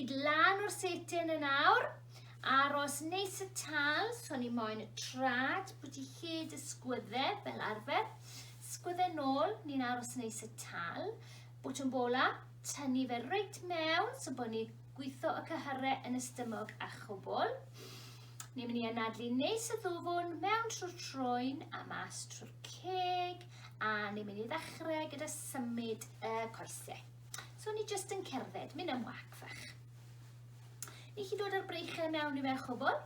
Id lan o'r setyn yn awr. Aros neis y tal, so ni moyn y trad, bwyty hyd y sgwydde fel arfer. Sgwydde nôl, ni'n aros neis y tal. Bwt yn bola, tynnu fe reit mewn, so bod ni'n gweithio y cyhyrre yn ystymog a chwbl. Ni'n mynd i anadlu neis y ddwfwn mewn trwy'r troen a mas trwy'r ceg, a ni'n mynd i ddechrau gyda symud y coesau. So ni jyst yn cerdded, mynd am wac fach. Ni chi dod â'r breichau mewn i fe chwbl.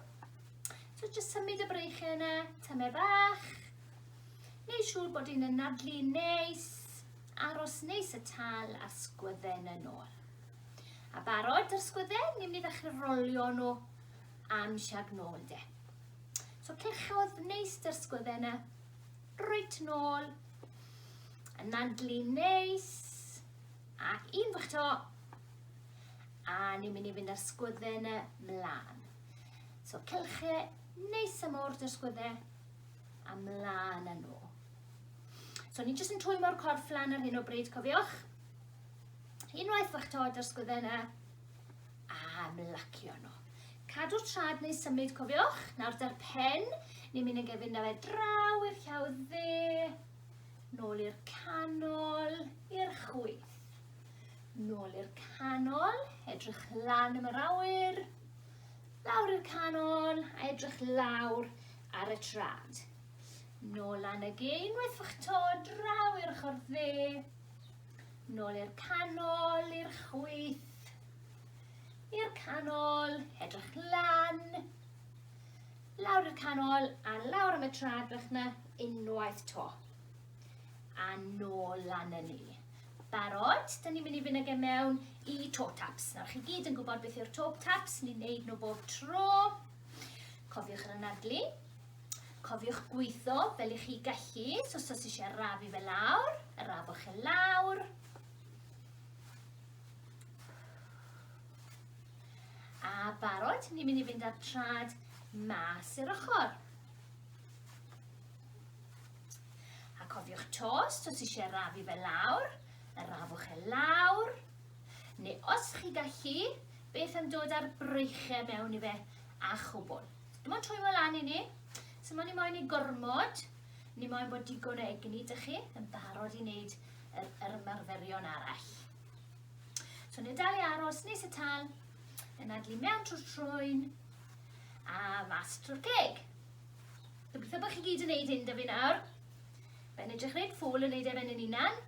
So jyst symud y breichau yna, tymer bach. Neu siŵr bod un yn nadlu neis, aros neis y tal a'r sgwydden yn ôl. A barod yr sgwydden, ni'n mynd i ddechrau rolio nhw am siag nôl de. So cyrchodd neis dy'r sgwydden yna, Reit nôl. Yn andlu neis. Ac un bych to. A ni'n mynd i fynd â'r sgwydden y mlaen. So cylch e neis am o'r dy'r sgwydde a mlaen â nhw. So ni'n jyst yn twymo'r corff lan ar hyn o bryd, cofiwch. Unwaith bych to dy'r sgwydde yna, a ymlacio nhw. Cadw'r trad neu symud, cofiwch, nawr da'r pen, ni'n mynd yn gefyn na fe draw i'r llaw dde, nôl i'r canol, i'r chwyth. Nôl i'r canol, edrych lan am yr awyr, lawr i'r canol, a edrych lawr ar y trad. Nôl lan y gein, wethwch to, draw i'r ochr dde, nôl i'r canol, i'r chwyth, I'r canol, edrych lan, lawr i'r canol a lawr am y tradwch na unwaith to. A nôl lan yn ni. Barod, dyn ni'n mynd i fynd ag e mewn i toe taps. Nawr chi gyd yn gwybod beth yw'r toe taps, ni'n neud nhw bob tro. Cofiwch yr anadlu. Cofiwch gweithio fel i chi gallu, so os eisiau rafu fe lawr, rafwch e lawr. A barod, ni'n mynd i fynd â'r trad mas i'r ochr. A cofiwch tos, os eisiau rafu fe lawr, y rafwch e lawr. Neu os chi gallu, beth am dod â'r breichau mewn i fe a chwbl. Dim ond twymo lan i ni. So mae ni moyn i gormod, ni moyn bod digon o egni dych chi yn barod i wneud yr ymarferion arall. So ni'n dal i aros nes y tal, yn adlu mewn trwy'r trwyn a mas trwy'r ceg. Gobeithio bod chi gyd yn neud hyn da fi nawr. Fe'n edrych reit ffwl yn neud efen yn unan.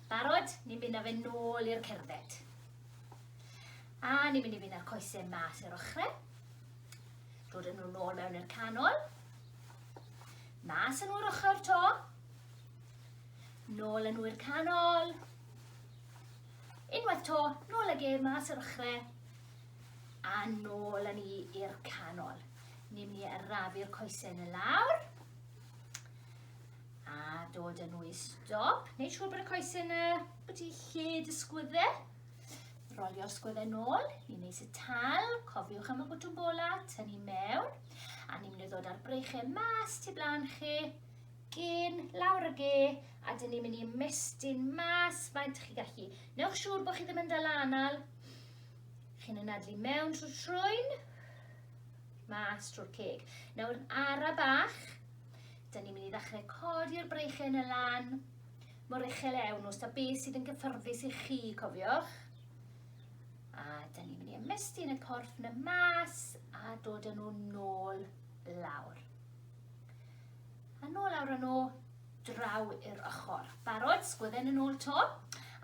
Barod, ni'n mynd â fe nôl i'r cerdded. A ni'n mynd i fynd â'r coesau mas i'r ochrau. Dod yn nhw'n ôl mewn i'r canol. Mas yn o'r ochr to. Nôl yn wy'r canol. Unwaith to, nôl ag e mas yr ochrau. A nôl yn i i'r canol. Ni'n mynd i arafu'r coesau yn y lawr. A dod yn wy'r stop. Neu siŵr bod y coesau yna bod i lle dysgwydde. Rolio'r sgwydde nôl i neis y tal. Cofiwch am y bwtwm bola, tynnu mewn. A ni'n mynd i ddod ar breichau mas tu blaen chi. gên, lawr y ge, a dyn ni'n mynd i ymestyn mas faint chi gallu. Newch siŵr bod chi ddim yn dal anal. Chi'n anadlu mewn trwy trwyn, mas trwy'r ceg. Nawr ara bach, dyn ni'n mynd i ddechrau codi'r breichen y lan, mor uchel ewn os da beth sydd yn gyffyrddus i chi, cofiwch. A dyn ni'n mynd i ymestyn y corff na mas a dod â nhw nôl lawr. A nôl lawr yn ôl, draw i'r ochr. Barod, sgwydden yn ôl to.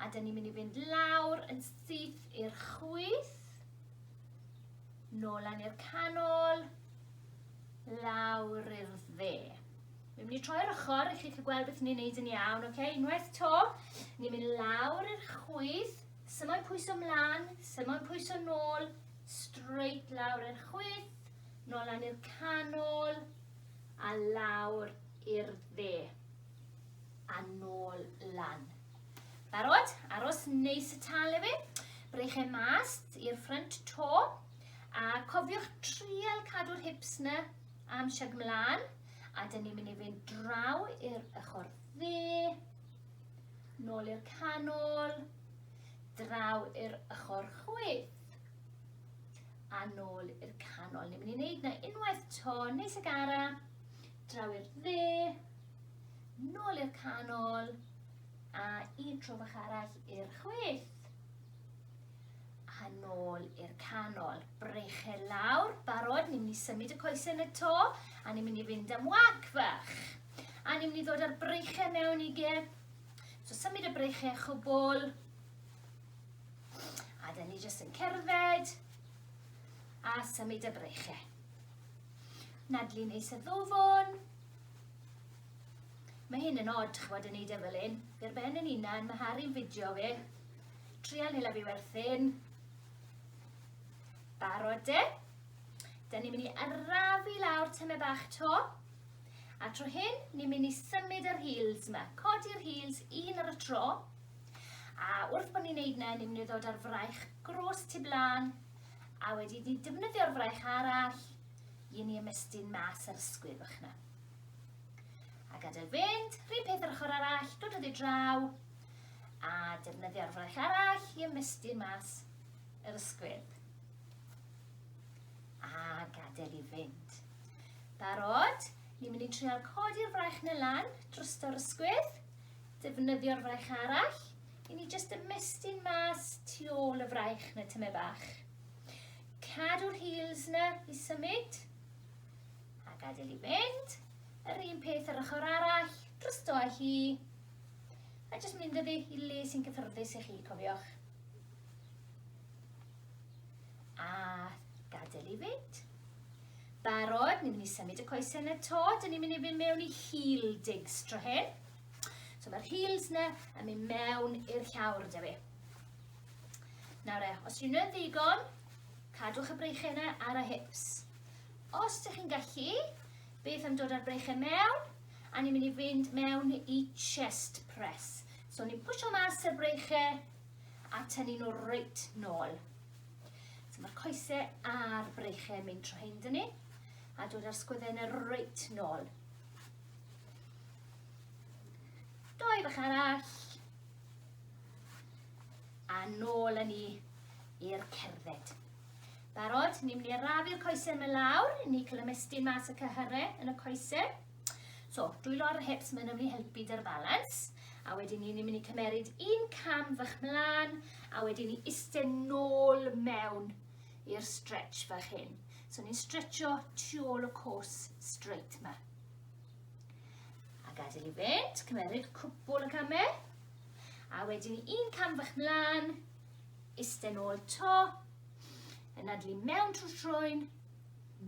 A dyn ni'n mynd i fynd lawr yn syth i'r chwyth. Nôl lan i'r canol. Lawr i'r dde. Mi'n mynd i troi'r ochr i chi chi gweld beth ni'n neud yn iawn, oce? Okay? Unwaith to, ni'n mynd lawr i'r chwyth, symo'n pwyso mlaen, symo'n pwyso nôl, straight lawr i'r chwyth, nôl lan i'r canol, a lawr i'r dde, a nôl lan. Barod? Aros neis y tal efe. Breich e mas i'r ffrynt to. A cofiwch trial cadw'r hips na am siag mlaen. A dyn ni'n mynd i fynd draw i'r ochr dde. Nôl i'r canol. Draw i'r ochr chwith. a nôl i'r canol. Ni'n mynd i wneud na unwaith to, neis y gara, draw i'r dde, nôl i'r canol, a un tro bach arall i'r chwith. A nôl i'r canol. Breche lawr, barod, ni'n mynd i symud y coesau yn y to, a ni'n mynd i fynd am wag fach. A ni'n mynd i ddod â'r breichau mewn i ge. So symud y breichau chwbl, A dyn ni jyst yn cerdded a symud y breichau. Nadlu neis y ddofon. Mae hyn yn od, chwad yn ei e fel un. Fi'r ben yn unan, mae Harry'n fideo fi. Trial hela fi werthin. Barod de. Dyna ni'n mynd i arafu lawr tyme bach to. A tro hyn, ni'n mynd i symud yr heels yma. Codi'r heels un ar y tro. A wrth bod ni'n neud 'na, ni'n mynd i ddod â'r fraich grôs tu blaen, a wedi ni defnyddio'r fraich arall, i ni ymestyn mas yr ysgwydd o'ch na. A gadael fynd, rhywun peth yr ochr arall, dod o ddi draw, a defnyddio'r fraich arall i ymestyn mas yr ysgwydd. A gadael i fynd. Barod? Ni'n mynd i trial codi'r fraich na lan dros yr ysgwydd. defnyddio'r fraich arall, i ni jyst ymestyn mas tu ôl y fraich na tyme bach. Cadw'r heels na i symud, a gadael i mynd. Yr un peth yr ochr arall, drysto â hi, a jyst mynd ydi i le sy'n cyffyrddus i chi, cofiwch. A gadael i fynd. Barod, ni'n mynd i symud y coesau yn y to, dyn ni'n mynd i fynd mewn i heel digs tro hyn. So mae'r heels na yn mynd mewn i'r llawr, da fi. Nawr e, os rwy'n yn ddigon, cadwch y breichau yna ar y hips. Os ydych chi'n gallu, beth am dod â'r breichau mewn, a ni'n mynd i fynd mewn i chest press. So ni'n pwysio mas y breichau a tynnu nhw reit nôl. So mae'r coesau a'r breichau yn mynd trwy hyn dyn ni, a dod â'r sgwyddau yn y reit nôl. Doi bach arall. A nôl yn ni i'r cerdded. Barod, ni'n mynd i arafu'r coesau yma lawr, ni'n cael ymestyn mas y cyhyrau yn y coesau. So, dwylo ar yr hips, mae'n mynd i helpu dy'r balans. A wedyn ni, ni'n mynd i cymeryd un cam fach mlaen, a wedyn ni isten nôl mewn i'r stretch fach hyn. So ni'n stretcho tu ôl y cwrs straight ma. A gadael i fynd, cymeryd cwpl y camau. A wedyn ni un cam fach mlaen, isten ôl to, yn adlu mewn trwy'r troen,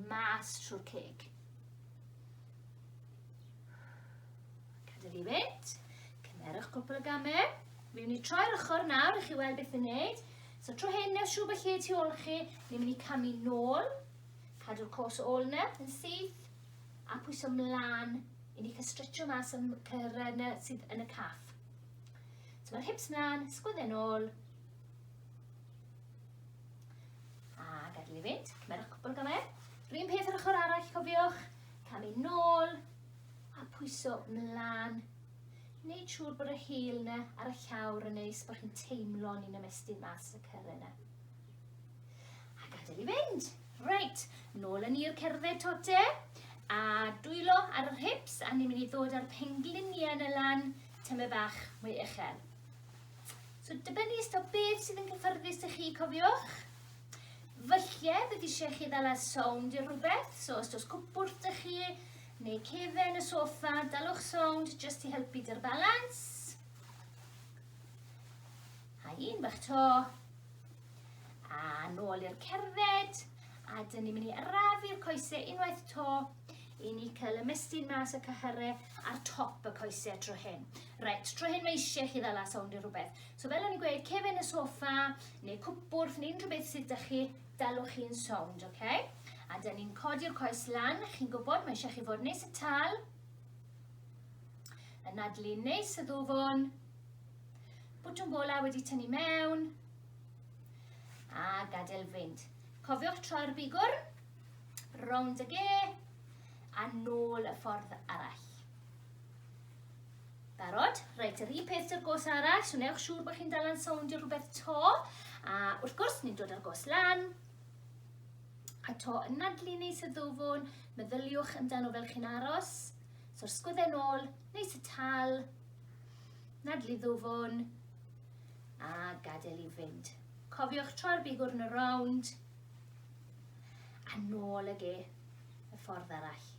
mas trwy'r ceg. Cadw'r i fynd. Cymerwch cwpl o gamau. Mi'n mynd i troi'r ochr nawr i chi weld beth i'n neud. So tro hyn, neu siw felly tu ôl chi, ni'n mynd i camu nôl, cadw'r cos ôl yna yn syth, a pwyso mlaen i ni cael stretcho mas am cyrraedd yna sydd yn y caff. So mae'r hips mlaen, sgwydden ôl, A gadael i fynd, cymerwch cwpl o gamau. Rhyn peth yr ochr arall, cofiwch, camu nôl, a pwyso mlaen. Wneud siŵr bod y hil yna ar y llawr yn neis, bod chi'n teimlo ni'n ymestyn mas y cyrra yna. A gadael i fynd. Reit, nôl yn i'r cerdded tote, a dwylo ar yr hips, a ni'n mynd i ddod â'r pengliniau yn y lan, tyma bach mwy uchel. So dibynnu ys to beth sydd yn cyffyrddus i chi, cofiwch. Fyllie, bydd eisiau chi ddal ar sound i rhywbeth, so os dos cwpwrdd dych chi, neu cefen y sofa, dalwch sound jyst i helpu dy'r balans. A un bach to. A nôl i'r cerdded. A dyn ni'n mynd i arafu'r coesau unwaith to i ni cael ymestyn mas y cyhyrau ar top y coesau tro hyn. Reit, tro hyn mae eisiau chi ddala sawnd i rhywbeth. So fel o'n i'n gweud, cefen y sofa, neu cwpwrth, neu unrhyw beth sydd da chi, dalwch chi'n sawnd, oce? Okay? A dyn ni'n codi'r coes lan, chi'n gwybod, mae eisiau chi fod nes y tal, y nadlu nes y ddwfwn, bwtwm bola wedi tynnu mewn, a gadael fynd. Cofiwch troi'r bigwrn, Rownd y ge, a nôl y ffordd arall. Barod? Reit, yr un peth dy'r gos arall, so newch siŵr bod chi'n dal yn sowndio rhywbeth to. A wrth gwrs, ni'n dod â'r gos lan, a to yn nadlu neu syddofwn, meddyliwch amdano fel chi'n aros. So'r sgwydden ôl, neu sy tal, nadlu ddofwn, a gadael i fynd. Cofiwch troi'r bigwrn y rownd, A nôl ag e, y ffordd arall.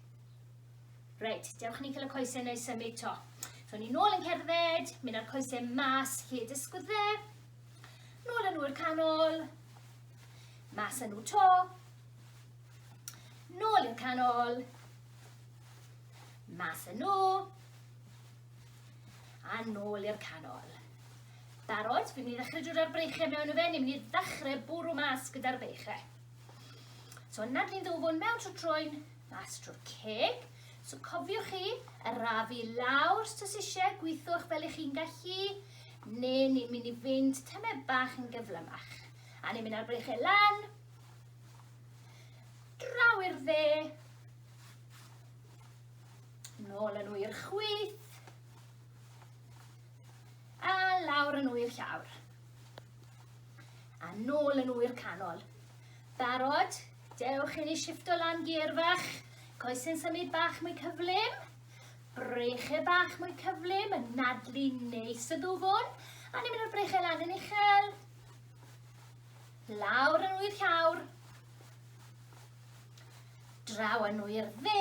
Reit, dewch ni cael y coesau neu symud to. So ni nôl yn cerdded, mynd â'r coesau mas lle dysgwyd fe. Nôl yn nhw'r canol. Mas yn nhw to. Nôl i'r canol. Mas yn nhw a nôl i'r canol. Barod? Fi'n mynd i ddechrau drwy'r arbreichiau mewn y fe, ni'n mynd i ddechrau bwrw mas gyda'r beichau. So yna ni'n ddwfwn mewn trwy troen, mas trwy'r ceg. So cofiwch chi, arafu lawr os oes eisiau, gweithwch fel ych chi'n gallu, neu ni'n mynd i fynd tymau bach yn gyflymach. A ni'n mynd ar breichau lan, draw i'r dde, nôl yn nhw i'r chwyth, A lawr yn ŵyr llawr. A nôl yn ŵyr canol. Barod? Dewch i ni shifto lan gear fach. Coesyn symud bach mwy cyflym. Brechau bach mwy cyflym, yn nadlu neis y dwfwn. A ni'n mynd o'r brechau lan yn uchel. Lawr yn ŵyr llawr. Draw yn ŵyr dde.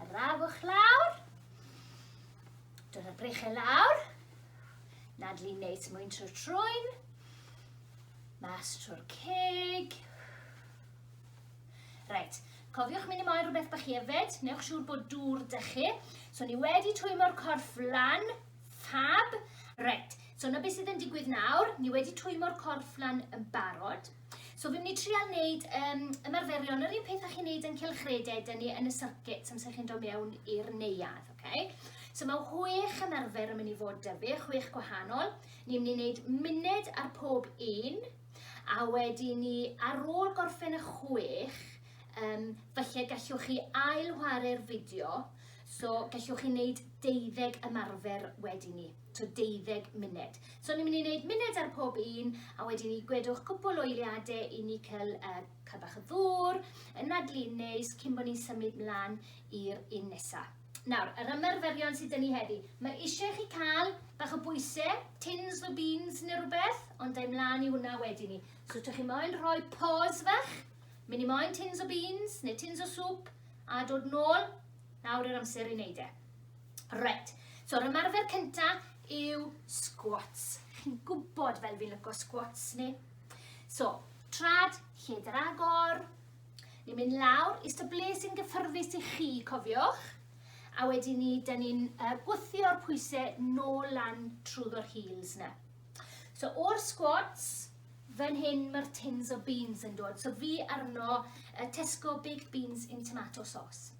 Y rafwch lawr. Dod y brechau lawr. Nadlu neis mwyn trwy'r trwyn. Mas trwy'r ceg. Reit, cofiwch mynd i moyn rhywbeth bach hefyd. Newch siŵr bod dŵr dy chi. So ni wedi twymo'r corff lan. Fab. Reit, so na beth sydd yn digwydd nawr. Ni wedi twymo'r corff lan yn barod. So fi'n mynd i trial wneud um, ymarferion yr un peth â chi'n wneud yn cylchredeg, dyn ni yn y circuit amser chi'n dod mewn i'r neuad. Okay? So mae chwech ymarfer yn mynd i fod dyfu, chwech gwahanol. Ni'n mynd i wneud munud ar pob un, a wedi ni ar ôl gorffen y chwech, um, felly gallwch chi ail chwarae'r fideo, so gallwch chi wneud deuddeg ymarfer wedi ni. to 20 munud. So ni'n mynd i wneud munud ar pob un a wedyn ni gwedwch cwpl o eiliadau i ni cael uh, cael bach o ddŵr, yn adlu neis cyn bod ni'n symud mlaen i'r un nesaf. Nawr, yr ymarferion sydd dyn ni heddi. Mae eisiau chi cael bach o bwysau, tins o beans neu rhywbeth, ond dau mlaen i hwnna wedyn ni. So, ydych chi moyn rhoi pause fach, mynd i moyn tins o beans neu tins o sŵp, a dod nôl Nawr yr amser i wneud e. Reit, so'r ymarfer cynta yw squats. Chi'n gwybod fel fi'n lyco squats ni. So, trad, lledr agor. Ni'n mynd lawr, eistedd ble sy'n gyffyrddus i chi, cofiwch. A wedyn ni, da ni'n uh, gwythio'r pwysau nôl lan trwyddo'r heels na. So o'r squads, fan hyn mae'r tins o beans yn dod. So fi arno uh, Tesco baked beans in tomato sauce.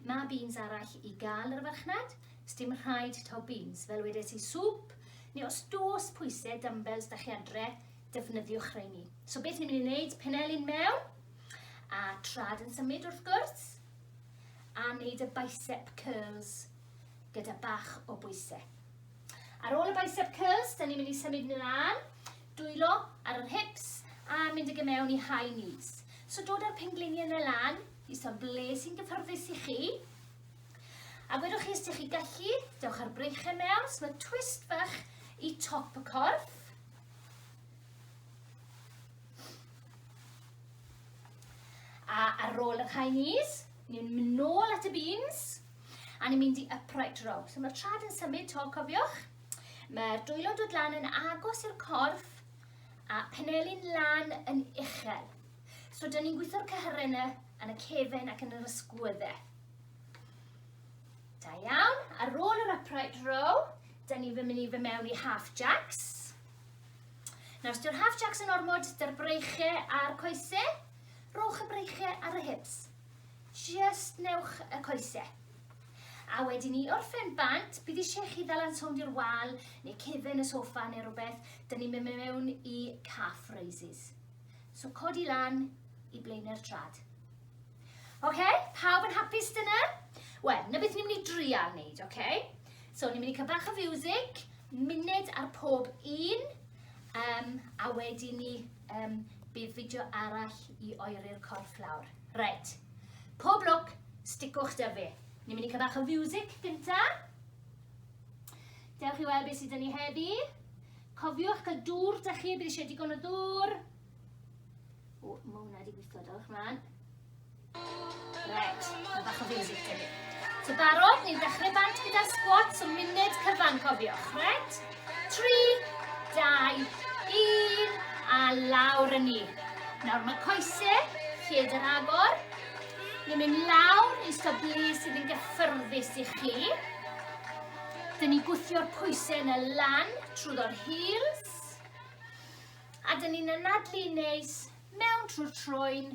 Mae beans arall i gael yr farchnad, sdim rhaid taw beans. Fel wedes i sŵp, neu os dos pwysau dumbbells da chi adre, defnyddiwch rheini. So beth ni'n mynd i wneud, penelin mewn, a trad yn symud wrth gwrs, a wneud y bicep curls gyda bach o bwysau. Ar ôl y bicep curls, da ni'n mynd i symud mlaen, dwylo ar yr hips a mynd ag mewn i high knees. So dod â'r pengliniau yna lan, i son ble sy'n gyffyrddus i chi. A gwedwch chi os ydych chi gallu, dewch ar breichau mewn, so mae twist bach i top y corff. A ar ôl yr high knees, ni'n mynd nôl at y beans, A ni'n mynd i upright row. So mae'r trad yn symud to, cofiwch. Mae'r dwylo dod lan yn agos i'r corff a penelin lan yn uchel. So dyn ni'n gweithio'r cyhyrau yna yn y cefn ac yn yr ysgwyddau. Da iawn. Ar ôl yr upright row, dyn ni'n mynd i fy mewn i half jacks. Nawr, os yw'r half jacks yn ormod dy'r breichau a'r coesau, rowch y breichau ar y hips. Jyst newch y coese. A wedi ni orffen bant, bydd eisiau chi ddal yn sownd i'r wal neu cefen y sofa neu rhywbeth, dyn ni'n mynd mewn i calf raises. So codi lan i blaenau'r trad. Oce, okay? pawb yn hapus dyna? Wel, na beth ni'n mynd i drial wneud, oce? Okay? So ni'n mynd i cael bach o fiwsig, munud ar pob un, um, a wedi ni Yym, bydd fideo arall i oeri'r corff lawr. Reit. Pob lwc, sticwch da fi. Ni'n mynd i cael bach o fiwsig gynta. Dewch i weld beth sydd yn ni heddi. Cofiwch cael dŵr da chi, bydd eisiau digon o ddŵr. O, mae hwnna wedi gweithio, dewch mlaen. Red, mae bach o fiwsig gen i. So barod, ni'n dechrau bant gyda squats o munud cyfan, cofiwch. Red, 3, 2, 1, a lawr yn ni. Nawr mae coesau, lled yr agor. Ni'n mynd lawr i stablu sydd yn gyffyrddus i chi. Dyn ni gwthio'r pwysau yn y lan trwy ddo'r heels. A dyn ni'n anadlu neis mewn trwy'r troen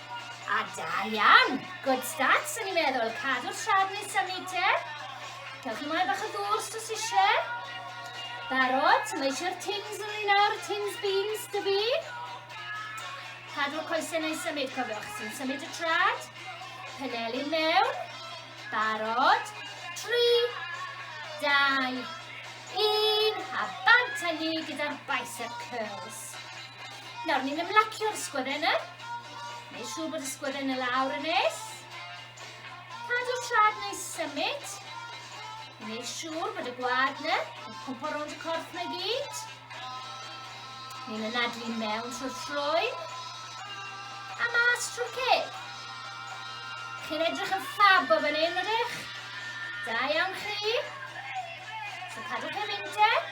A da iawn! Good start, sy'n ni'n meddwl. Cadw'r trad nes am meter. Cewch ymlaen bach o ddŵr os oes eisiau. Barod, ti'n leisio'r tins yn ni nawr, tins beans dy fi. Cadw'r coesau neu symud, cofiwch, sy'n symud y trad. Penelu mewn. Barod. 3, 2, 1. A bant â ni gyda'r bicep curls. Nawr, ni'n ymlacio'r sgwyddenau. Neu siŵr bod y sgwyddenau lawr yn nes. Cadw trad neu symud. Neu siŵr bod y gwad na yn cwmpo rownd y corff neu gyd. Ni'n ynadlu mewn trwy'r trwy. A mas trwy'r ceg. Chi'n edrych yn ffab o fan hyn, ydych? Da iawn chi. So cadwch eich undeb.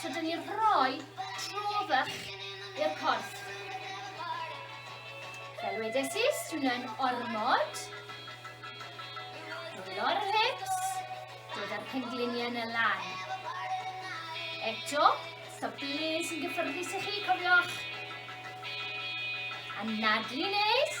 So dyn ni'n rhoi trofach i'r corff. Fel wedes i, swno'n ormod. Dod o'r hips, dod o'r pengliniau yn y lan. Eto, so ble sy'n gyffyrddus i chi, cofiwch. Anadlu nes.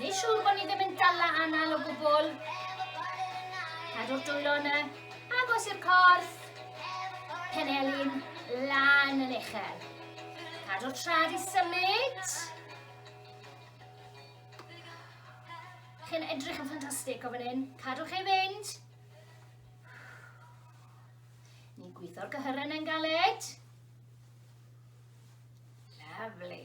Ni siŵr bod ni ddim yn dala anal o gwbl. Cadw'r dwylo yna, agos i'r corff, penelin lan yn uchel. Cadw'r trad i symud. Chi'n edrych yn ffantastig o fan hyn. Cadwch ei fynd. Ni'n gweithio'r gyhyren yn galed. Lovely.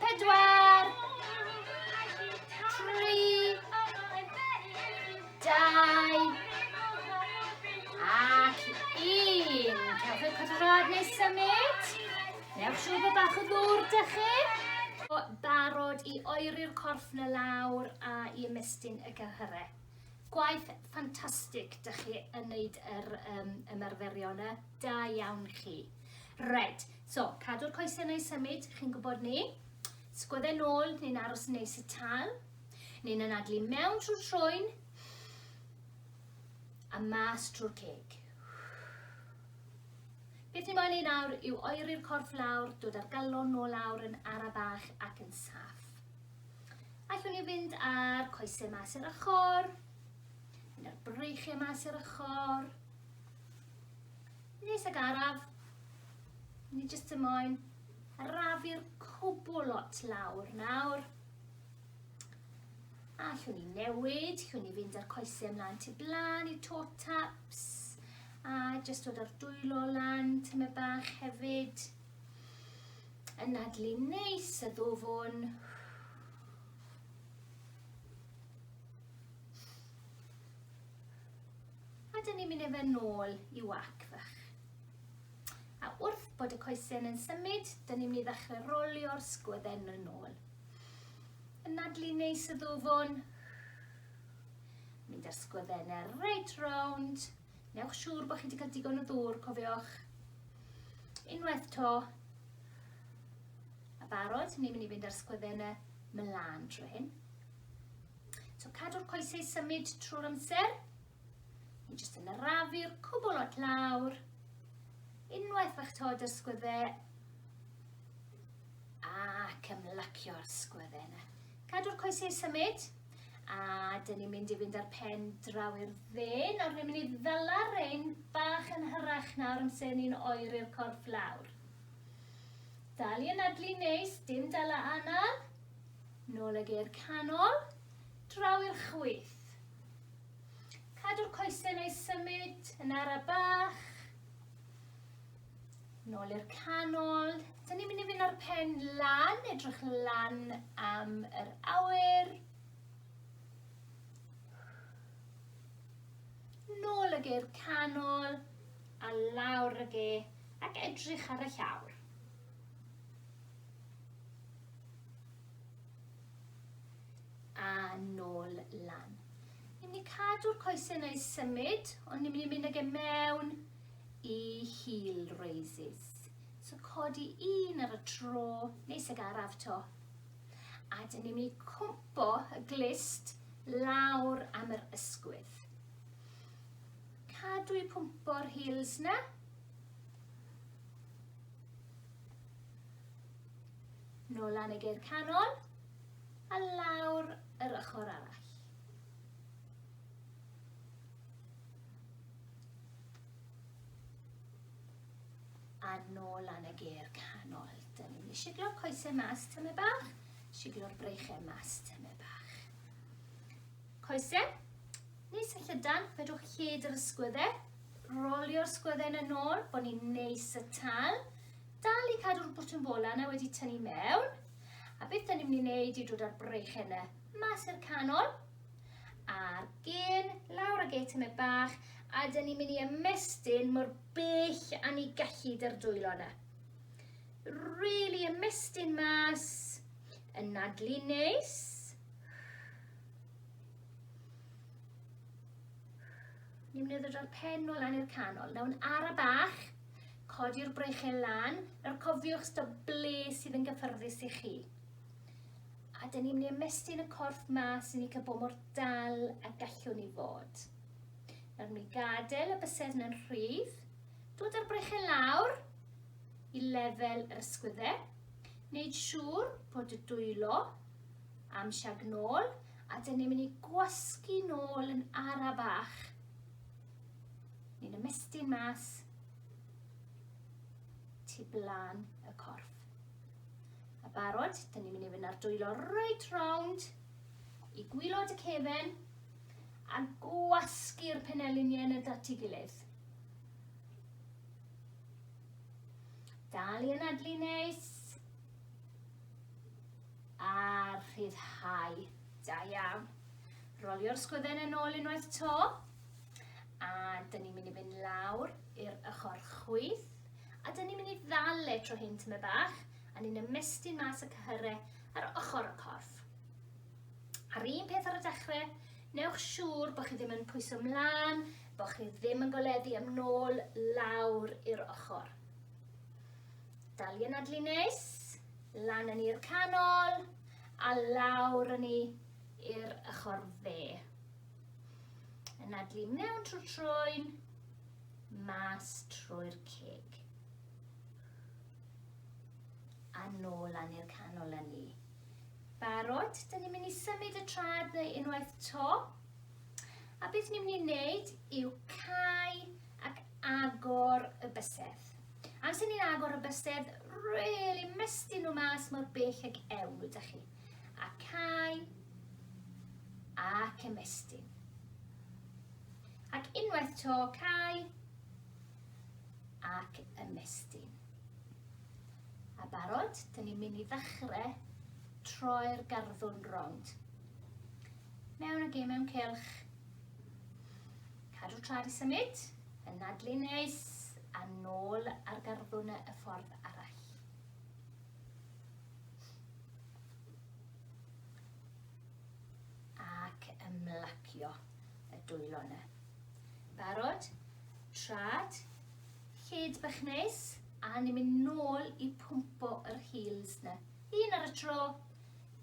Pedwar. Tri. Dau. Ac un. Cewch eich codrod neu symud. Newch siw bod bach o ddŵr da chi. Barod i oeri'r corff na lawr a i ymestyn y gyhyrau. Gwaith ffantastig, dych chi yn wneud yr um, ymarferion y da iawn chi. Red, So, cadw'r coesau yn ei symud, chi'n gwybod ni. Sgwydde nôl, ni'n aros yn neis y tal. Ni'n anadlu mewn trwy'r troen. A mas trwy'r ceg. Beth ni'n moyn ei nawr yw oeri'r corff lawr, dod ar galon nôl lawr yn ara bach ac yn saff. Allwn ni fynd ar coesau mas i'r ochr, mynd ar breichiau mas i'r ochr. Nes ag araf, Ni jyst y moyn arafu'r cwbl lot lawr nawr. A llwn ni newid, llwn ni fynd â'r coesau ymlaen tu blaen i toe taps. A jyst dod o'r dwylo lan, tyma bach hefyd. Yn nadlu neis y ddofwn. A dyn ni'n mynd efe nôl i wac fach. A wrth bod y coesyn yn symud, dyn ni'n mynd i ddechrau rolio'r sgwydden yn ôl. Yn nadlu neis y ddwfwn. Mynd â'r sgwyddennau reit rownd. Newch siŵr bod chi wedi cael digon o ddŵr, cofiwch. Unwaith to. A barod, ni'n mynd i fynd â'r sgwyddennau mlaen trwy hyn. So cadw'r coesau symud trwy'r amser. Ni jyst yn arafu'r cwbl at lawr. Unwaith eich tod yr sgwydde, ac ymlacio'r sgwydde yna. Cadw'r coesau symud, a dyn ni'n mynd i fynd â'r pen draw i'r dde. Nawr ni'n mynd i ddala rein bach yn hyrach nawr yn sy'n ni'n oeri'r corff lawr. Dal i anadlu neis, dim dala anal. Nôl ag e'r canol, draw i'r chwyth. Cadw'r coesau neu symud yn ara bach. Nôl i'r canol. Dyn ni'n mynd i fynd ar pen lan, edrych lan am yr awyr. Nôl ag i'r canol a lawr ag e ac edrych ar y llawr. A nôl lan. Ni'n mynd i cadw'r coesau neu symud, ond ni'n mynd i mynd ag e mewn i heel raises. So codi un ar y tro, neis ag araf to. A dyn ni'n mynd i cwmpo y glist lawr am yr ysgwydd. Cadw i pwmpo'r heels na. Nôl lan y geir canol a lawr yr ochr arall. A nôl lan y geir canol. Dyn ni'n mynd i siglo'r coesau mas tyme bach, siglo'r breichau mas tyme bach. Coesau, neis a llydan, fedrwch lled yr ysgwyddau, rolio'r sgwyddau yn y nôl, bod ni'n neis y tal, Dal i cadw'r bwtwm bola na wedi tynnu mewn. A beth da ni'n mynd i wneud i dod â'r breichen na mas i'r canol. A'r gen, lawr ag e tymed bach, a da ni'n mynd i ymestyn mor bell a ni gallu dy'r dwylo na. Really ymestyn mas, yn nadlu neis. Ni'n mynd i ddod o'r pen nôl lan i'r canol. Nawr yn ara bach, Codi'r breichiau lan, nawr cofiwch stop ble sydd yn gyffyrddus i chi. A dyn ni'n mynd i ymestyn y corff mas i ni cael bod mor dal a gallwn ni fod. Nawr mi gadael y bysedd yna'n rhydd, dod â'r breichiau lawr i lefel yr ysgwyddau, wneud siŵr bod y dwylo am siag nôl, a dyn ni'n mynd i gwasgu nôl yn ara bach Ni'n ymestyn mas tu blaen y corff. A barod, dyn ni'n mynd i fynd ar dwylo reit round i gwylod y cefen a gwasgu'r peneliniau yn y dati gilydd. Dal i anadlu neis a rhyddhau. Da iawn. Rolio'r sgwydden yn ôl unwaith to. A dyn ni'n mynd i fynd lawr i'r ochr chwith. A dyn ni'n mynd i ddal e tro hyn tyma bach. A ni'n ymestyn mas y cyhyrau ar ochr y corff. A'r un peth ar y dechrau, newch siŵr bod chi ddim yn pwyso mlaen, bod chi ddim yn goleddu am nôl lawr i'r ochr. Dal i anadlu neis, lan yn i'r canol, a lawr yn i i'r ochr fe. Yn adlu mewn trwy'r troen, mas trwy'r cig. A nôl lan i'r canol â ni. Barod, dyn ni'n mynd i symud y trad neu unwaith to. A beth ni'n mynd i wneud yw cael ac agor y bysedd. Amser ni'n agor y bysedd, really mestyn nhw mas mor bell ag ewn nhw, da chi. a cae ac ymestyn. Ac unwaith to cae ac ymestyn. A barod, dyn ni'n mynd i ddechrau troi'r garddwrn rownd. Mewn ag ei mewn cylch. Cadw trad i symud, yn nadlu neis, a nôl ar garddwrn y ffordd arall. Ac ymlacio y dwylo yna. Barod? Trad? Hyd bach neis? A ni'n mynd nôl i pwmpo yr heels yna. Un ar y tro.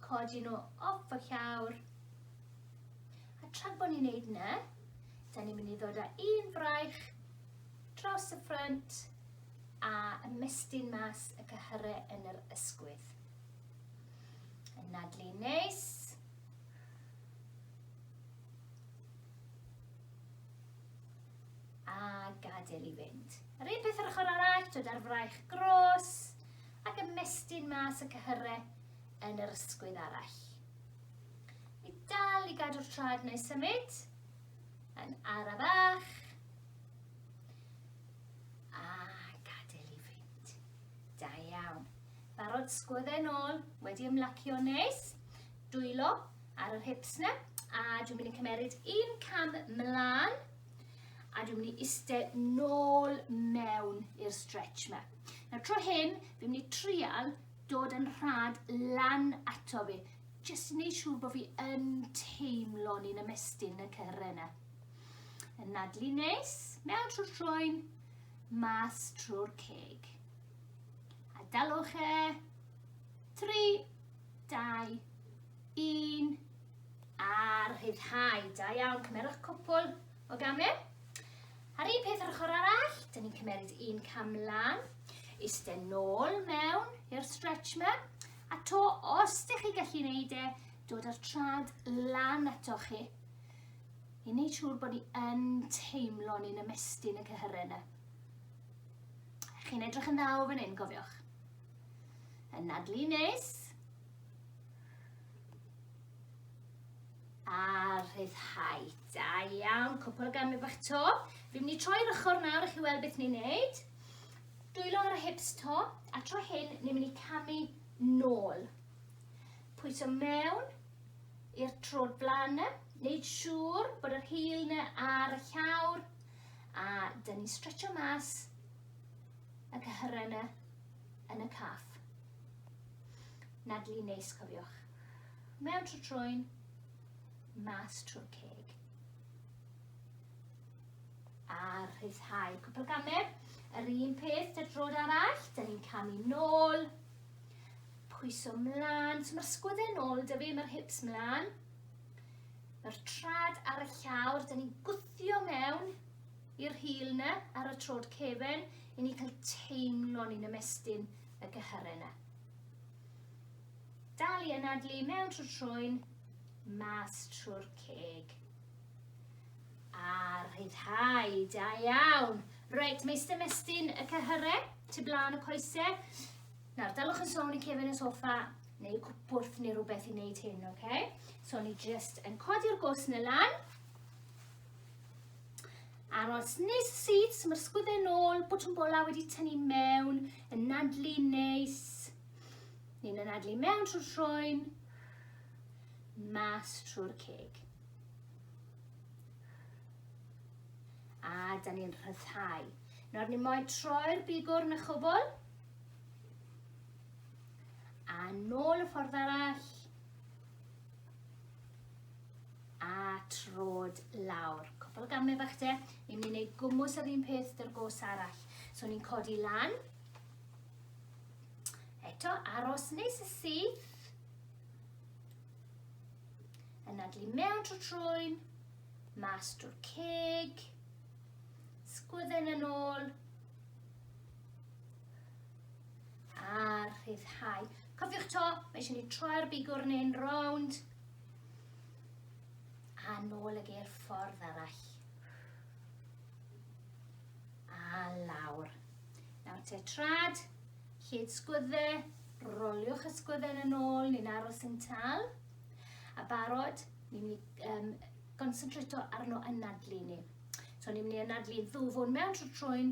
Codi nhw off y llawr. A trad bod ni'n neud yna, da ni'n mynd i ddod â un fraich dros y ffrynt a ymestyn mas y cyhyre yn yr ysgwydd. Yn nadlu neis. A gadael i fynd. Yr un peth yr ochr arall, dod ar fraich gros ac ymestyn mas y cyhyre yn yr ysgwydd arall. I dal i gadw'r trad neu symud, yn arafach, A, gadael i fynd. Da iawn. Barod, sgwydde nôl, wedi ymlacio neis. Dwylo ar yr hips na. A dwi'n mynd i cymeryd un cam mlaen. A dwi'n mynd i iste nôl mewn i'r stretch yma. Nawr tro hyn, fi'n mynd i trial dod yn rhad lan ato fi. Jyst yn ei siŵr bod fi yn teimlo ni'n ymestyn y cyrre yna. Anadlu neis, mewn trwy'r troen, mas trwy'r ceg. A dalwch e. 3, 2, 1. A rhyddhau. Da iawn, cymerwch cwpl o gamau. A'r un peth ar ochr arall, dyn ni'n cymeryd un cam lan, iste nôl mewn i'r stretch yma, a to os ydych chi gallu gwneud e, dod â'r trad lan atoch chi, i wneud siŵr bod ni yn teimlo ni'n ymestyn y cyhyrau yna. Chi'n edrych yn dda o fan hyn, cofiwch. Yn nadlu nes. A rhyddhau. Da iawn, cwpl o gamu bach to. Fi'n mynd i troi'r ochr nawr i chi weld beth ni'n neud. Dwylo ar y hips to, a tro hyn ni'n mynd i camu nôl. Pwyso mewn, i'r tro'r blaen na. Neud siŵr bod yr hil na ar y llawr. A dyn ni'n stretcho mas y cyhyrau na yn y caff. Nadlu neis, cofiwch. Mewn trwy troen, mas trwy'r ceg. A rhyddhau cwpl gamer. Yr un peth, dy'r drod arall, dyn ni'n camu nôl, Pwyso mlân, so mae'r sgwydde nôl da fi, mae'r hips mlân. Mae'r trad ar y llawr, da ni'n gwthio mewn i'r hil na ar y trod cefen i ni cael teimlo ni'n ymestyn y gyhyrau na. Dal i anadlu mewn trwy trwy'n mas trwy'r ceg. A rhyddhau, da iawn. Reit, meistr ymestyn y cyhyrau, tu blaen y coesau. Nawr, dylwch yn sôn i cefn y soffa neu cwpwrth neu rhywbeth i wneud hyn, oce? Okay? So, ni just yn codi'r gos yn y lan. Aros nes y sydd, sy'n mae'r sgwyddau nôl, bwtwm bola wedi tynnu mewn, yn nadlu neis. Ni'n yn nadlu mewn trwy'r troen, mas trwy'r ceg. A da ni'n rhyddhau. Nawr ni moyn troi'r bigwr yn y chwbl, A nôl y ffordd arall. A trod lawr. Cwpl o gamau bach te. Ni'n mynd i wneud gwmwys yr un peth dy'r gos arall. So ni'n codi lan. Eto, aros neis y syth. Yn adlu mewn trwy trwy'n. Mas drwy'r ceg. Sgwydden yn ôl. A rhyddhau. Cofiwch to, mae eisiau ni troi'r bigwr neu'n rownd. A nôl y geir ffordd arall. A lawr. Nawr te trad, lled sgwydde, roliwch y sgwydden yn ôl, ni'n aros yn tal. A barod, ni'n mynd i um, gonsentrato arno anadlu ni. So ni'n mynd i anadlu ddwfwn mewn trwy trwy'n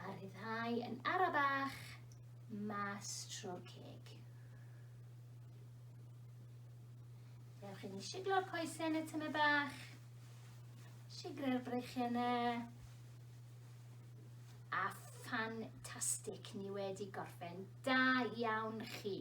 A rhyddhau yn ara bach mas trwy'r ceg. Dewch i ni siglo'r coesau yn y tyme bach. Sigrau'r breichiau yna. A ffantastig, ni wedi gorffen. Da iawn chi.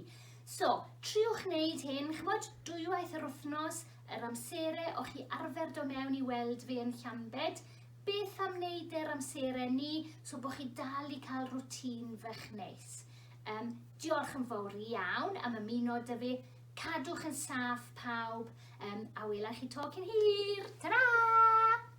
So, triwch wneud hyn, chymod, dwywaith yr wythnos, yr amserau o'ch chi arfer do mewn i weld fi yn Llambed, Beth am wneud e ar amseren ni, so bod chi dal i cael rwtîn fach neis. Um, diolch yn fawr iawn am ymuno dy fi. Cadwch yn saff pawb, um, a wela chi to cyn hir. Ta-ra!